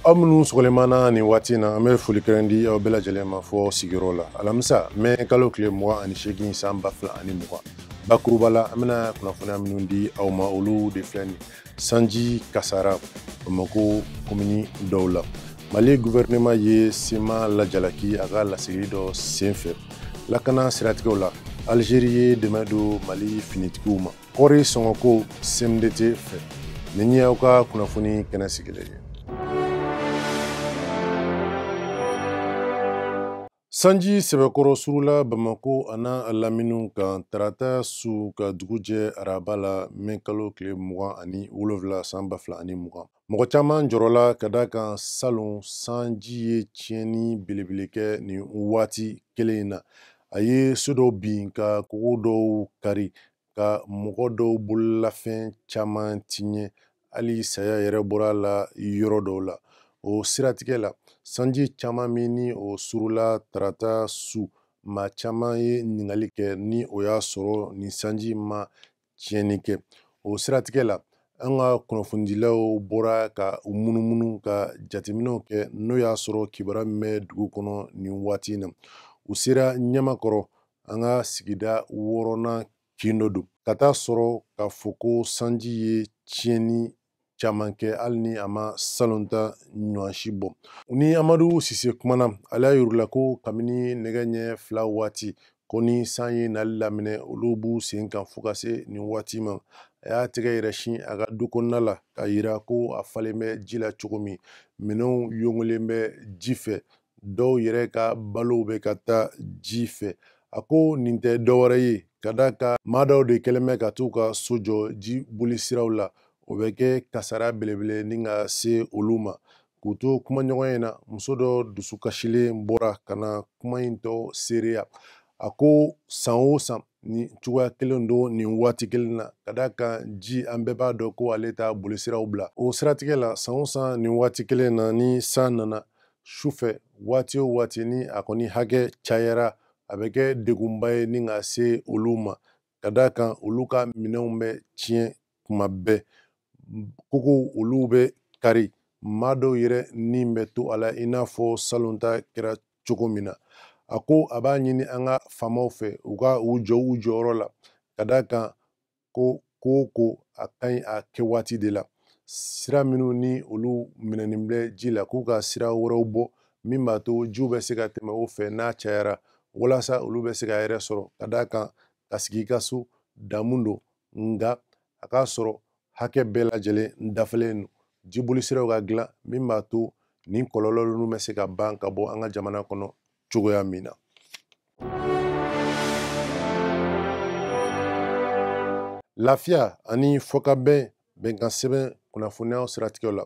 aw minnu sɔgɔlen b'an na nin waati na an bɛ foli kɛrɛn di aw bɛɛ lajɛlen ma fo sigiyɔrɔ la alamisa mɛ kalo tile mugan ani seegin san ba fila ani mugan bakuruba la an bɛna kunnafoniya minnu di aw ma olu de filɛ nin sanji kasara bamako komini dɔw la mali guvɛrɛnɛma ye cma lajalaki a ka laseli dɔ senfɛ lakana siratigɛw la alizeri ye dɛmɛ don mali finitigiw ma kɔɔri sɔngɔko cmdt fɛ nin ye aw ka kunnafoni kɛnɛ sigilen ye sanji sɛbɛkɔrɔ surula bamako an'a laminiw kan tarata su ka dugu jɛ araba la mɛ kalo tile mugan ani wolonfila san ba fila ani mugan Mɔgɔ caman jɔrɔla ka d'a kan salon sanji ye tiɲɛni belebele kɛ nin waati kelen in na a ye so dɔw bin ka kogo dɔw kari ka mɔgɔ dɔw bololafɛn caman tiɲɛ hali saya yɛrɛ bɔra a la yɔrɔ dɔw la o siratigɛ la sanji caman min ni o surula tarata su maa caman ye ɲininkali kɛ ni o y'a sɔrɔ nin sanji ma tiɲɛni kɛ o siratigɛ la an ka kunnafonidilaw bɔra ka u munumunu ka jateminɛw kɛ n'o y'a sɔrɔ kibaruya min bɛ dugu kɔnɔ nin waati in na u sera ɲamakɔrɔ an ka sigida wɔɔrɔnan kin dɔ don ka taa sɔrɔ k'a fɔ ko sanji ye tiɲɛni caman kɛ hali ni a ma salon ta ɲɔgɔn si bɔ u ni amadu sise kumana ale y'a yir'u la ko kabini nɛgɛ ɲɛ fila waati ko ni san ye nali daminɛ olu b'u sen kan fo ka se nin waati ma a y'a tɛgɛ yɛrɛ sin a ka du kɔnɔna la k'a yira ko a falen bɛ ji la cogo min minɛnw yongolen bɛ ji fɛ dɔw yɛrɛ ka balow bɛ ka taa ji fɛ a ko nin tɛ dɔwɛrɛ ye ka d'a kan maa dɔw de kɛlen bɛ ka t'u ka so jɔ ji bolisiraw la o bɛ kɛ kasara belebele ni ka se olu ma k'u to kumaɲɔgɔnya in na muso dɔ dusukasilen bɔra ka na kuma in tɔ seereya a ko san o san nin cogoya kelen don nin waati kelen na ka d'a kan ji an bɛɛ b'a dɔn ko ale t'a bolisira bila o siratigɛ la san o san nin waati kelen na ni san nana su fɛ waati o waati ni a kɔni hakɛ cayara a bɛ kɛ degunba ye ni ka se olu ma ka d'a kan olu ka minɛnw bɛ tiɲɛ kuma bɛɛ kogow olu bɛ kari maa dɔw yɛrɛ ni bɛ to a la i n'a fɔ salon ta kɛra cogo min na a ko a b'a ɲini an ka faamaw fɛ u ka u jɔ u jɔyɔrɔ la ka d'a kan ko ko o ko a ka ɲi a kɛ waati de la sira minnu ni olu minɛnen bɛ ji la k'u ka sira wɛrɛw bɔ min b'a to jiw bɛ se ka tɛmɛ o fɛ n'a cayara walasa olu bɛ se ka yɛrɛ sɔrɔ ka d'a kan ka sigi i ka so damu don nka a k'a sɔrɔ hakɛ bɛɛ lajɛlen dafalen don jibolisiraw ka dilan min b'a to nin kɔlɔlɔ ninnu bɛ se ka ban ka bɔ an ka jamana kɔnɔ cogoya min na lafiya ani fɔkabɛn bɛnkan sɛbɛn kunnafoniyaw siratigɛw la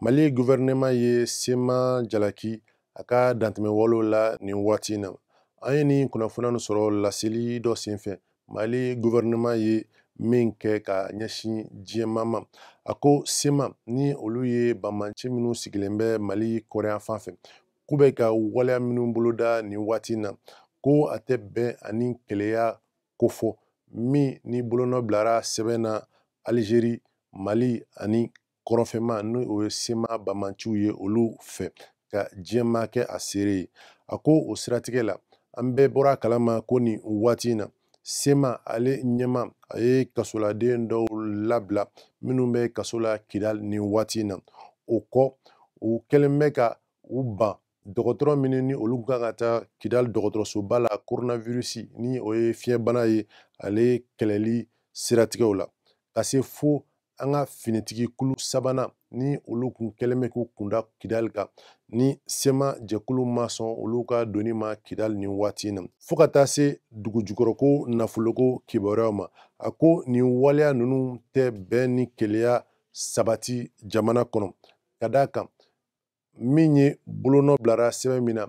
mali guvɛrɛnɛman ye sema jalaki a ka dantɛmɛ walew la nin waati in na an ye nin kunnafoniya nin sɔrɔ laseli dɔ senfɛ mali guvɛrɛnɛman ye min kɛ ka ɲɛsin diɲɛmaa ma a ko sema ni olu ye banbanci minnu sigilen bɛ mali kɔrɔn yanfan fɛ k'u bɛ ka waleya minnu boloda nin waati in na ko a tɛ bɛn ani kelenya kofɔ min ni bolonɔ bilara sɛbɛn na alizeri mali ani kɔrɔnfɛma n'o ye sema banbanciw ye olu fɛ ka diɲɛmaa kɛ a seere ye a ko o siratigɛ la an bɛɛ bɔra kalama ko nin waati in na sema ale ɲɛmaa a ye kasoladen dɔw labila minnu bɛ kaso la kidali nin waati in na o kɔ u kɛlen bɛ ka u ban dɔgɔtɔrɔ minnu ni olu kan ka taa kidali dɔgɔtɔrɔsoba la coronavirus ni o ye fiɲɛbana ye ale kɛlɛli siratigɛw la ka se fo an ka finitigi kulu sabanan ni olu kun kɛlen bɛ k'u kunda kidali kan ni sema jɛkulu ma sɔn olu ka donni ma kidali nin waati in na fo ka taa se dugujukɔrɔko nafoloko kibaruyaw ma a ko nin waleya ninnu tɛ bɛn ni kelenya sabati jamana kɔnɔ ka d'a kan min ye bolonɔ bilara sɛbɛn min na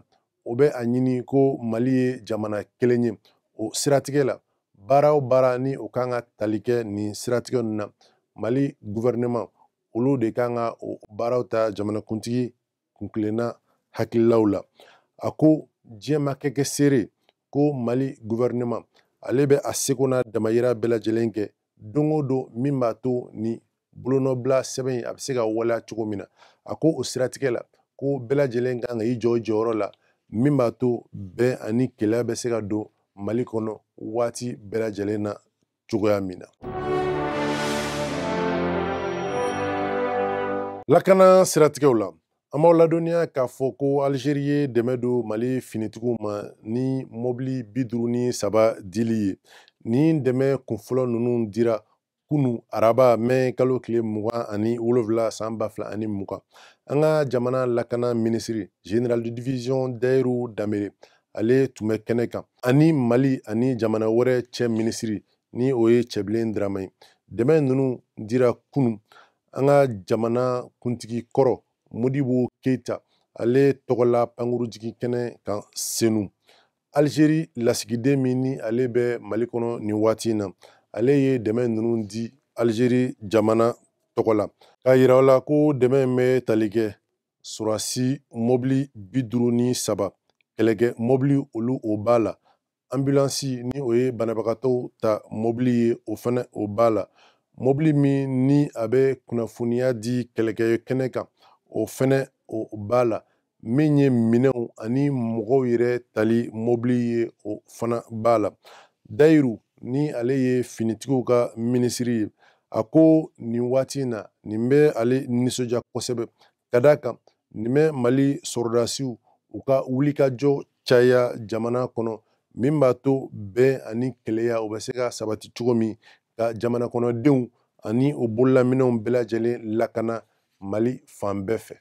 o bɛ a ɲini ko mali ye jamana kelen ye o siratigɛ la baara o baara ni o kan ka tali kɛ nin siratigɛ ninnu na mali guvɛrɛnɛman olu de kan ka o baaraw ta jamanakuntigi kuntilenna hakililaw la a ko diɲɛmaa ka kɛ seere ko mali gouvernement ale bɛ a seko n'a damayira bɛɛ lajɛlen kɛ don o don min b'a to ni bolonɔbila sɛbɛn in a bɛ se ka waleya cogo min na a ko o siratigɛ la ko bɛɛ lajɛlen kan ka i jɔ i jɔyɔrɔ la min b'a to bɛn ani kelenya bɛ se ka don mali kɔnɔ waati bɛɛ lajɛlen na cogoya min na lakana siratigɛw la an b'aw ladɔnniya k'a fɔ ko alizeri ye dɛmɛ don mali finitigiw ma ni mɔbili bi duuru ni saba dili ye nin dɛmɛ kunfɔlɔ ninnu dira kunu araba mɛ kalo tile mugan ani wolonwula san ba fila ani mugan an ka jamana lakana minisiri general de division dayiru danbele ale tun bɛ kɛnɛ kan ani mali ani jamana wɛrɛ cɛ minisiri ni o ye cɛbilen darame ye dɛmɛ ninnu dira kunu an ka jamana kuntigi kɔrɔ modibo keita ale tɔgɔla pankurujigi kɛnɛ kan senu alizeri lasigiden min ni ale bɛ mali kɔnɔ nin waati in na ale ye dɛmɛ ninnu di alizeri jamana tɔgɔ la k'a yira la ko dɛmɛ in bɛ tali kɛ sɔrɔdasi mɔbili bi duuru ni saba kɛlɛkɛ mɔbili olu o b'a la anbilansi ni o ye banabagatɔw ta mɔbili ye o fana o b'a la mɔbili min ni a bɛ kunnafoniya di kɛlɛkɛ kɛnɛ kan o fana o b'a la min ye minɛnw ani mɔgɔw yɛrɛ tali mɔbili ye o fana b'a la dayiru ni ale ye finitigiw ka minisiri ye a ko nin waati in na nin bɛ ale nisɔndiya kosɛbɛ ka d'a kan nin bɛ mali sɔrɔdasiw u ka wulikajɔ caya jamana kɔnɔ min b'a to bɛn ani kelenya o bɛ se ka sabati cogo min ka jamanakɔnɔdenw ani o bololaminɛnw bɛɛ lajɛlen lakana mali fan bɛɛ fɛ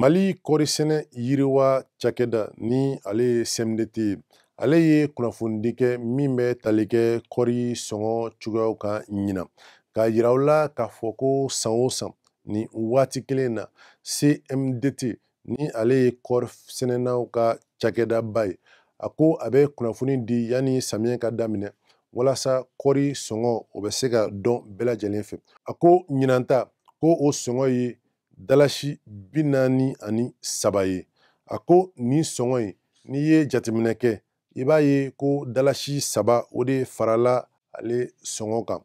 mali kɔɔrisɛnɛ yiriwa cakɛda ni ale ye cmdt ye ale ye kunnafonidi kɛ min bɛ tali kɛ kɔɔri sɔngɔ cogoyaw kan ɲinan k'a yira u la k'a fɔ ko san o san nin waati kelen na cmdt ni ale ye kɔɔri sɛnɛnaw ka cakɛdaba ye a ko a bɛ kunnafoni di yanni samiyɛ ka daminɛ walasa kɔɔri sɔngɔ o bɛ se ka dɔn bɛɛ lajɛlen fɛ a ko ɲinanta ko o sɔngɔ ye dalasi bi naani ani saba ye a ko nin sɔngɔ in n'i ye jateminɛ kɛ i b'a ye ko dalasi saba o de farala ale sɔngɔ kan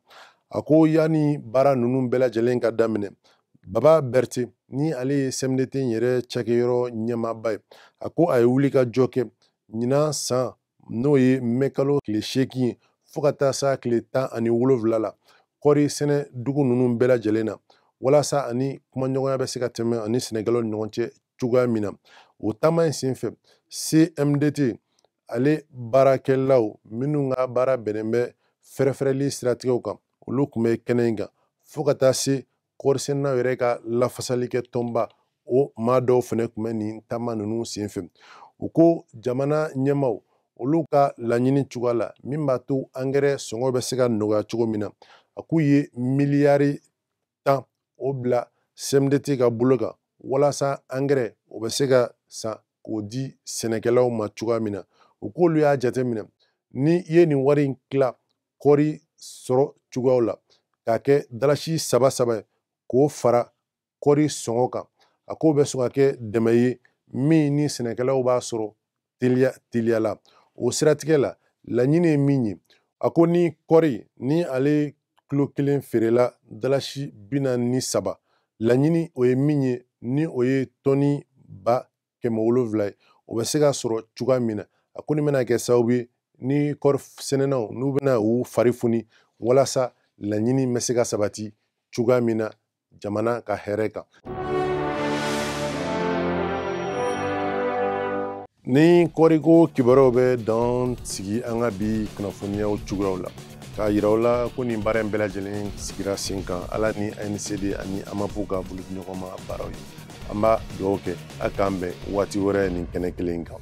a ko yanni baara ninnu bɛɛ lajɛlen ka daminɛ baba bɛrite ni ale ye sɛmidete yɛrɛ cakɛyɔrɔ ɲɛmaaba ye a ko a ye wulikajɔ kɛ ɲinan san n'o ye mɛkalo tile seegin ye fɔɔ ka taa s'a tile tan ani wolonfila la kɔɔri sɛnɛ dugu ninnu bɛɛ lajɛlen na walasa ani kumaɲɔgɔnya bɛ se ka tɛmɛ a ni sɛnɛkɛlaw ni ɲɔgɔn cɛ cogoya min na o taama in senfɛ cmdt ale baarakɛlaw minnu ka baara bɛnnen bɛ fɛrɛfɛrɛli siratigɛw kan olu tun bɛ kɛnɛ in kan fɔɔ ka taa se kɔɔrisɛnɛnaw yɛrɛ ka lafasali kɛ tɔnba o maa dɔw fana tun bɛ nin taama ninnu senfɛ u ko jamana ɲɛmaaw olu ka laɲini cogoya la min b'a to angɛrɛ sɔngɔ bɛ se ka nɔgɔya cogo min na a k'u ye miliyari tan o bila cmdt ka bolo kan walasa angɛrɛ o bɛ se ka san k'o di sɛnɛkɛlaw ma cogoya min na u k'olu y'a jateminɛ ni i ye nin wari in tila kɔɔri sɔrɔ cogoyaw la k'a kɛ dalasi saba saba ye k'o fara kɔɔri sɔngɔ kan a k'o bɛ sɔn ka kɛ dɛmɛ ye min ni sɛnɛkɛlaw b'a sɔrɔ teliya teliya la o siratigɛ la laɲini ye min ye a ko ni kɔɔri ni ale kilo kelen feerela dalasi bi naani ni saba laɲini o ye min ye ni o ye tɔni ba kɛmɛ wolonwula ye o bɛ se ka sɔrɔ cogoya min na a ko nin bɛna kɛ sababu ye ni kɔɔrisɛnɛnaw n'u bɛna u fari foni walasa laɲini bɛ se ka sabati cogoya min na jamana ka hɛrɛ kan nin kɔɔriko kibaruyaw bɛ dan sigi an ka bi kunnafoniyaw cogoyaw la k'a yira aw la ko nin baara in bɛɛ lajɛlen sigira sen kan ala ni ancd ani amap ka bolodiɲɔgɔnma baaraw ye an b'a dugawu kɛ a k'an bɛn waati wɛrɛ nin kɛnɛ kelen kan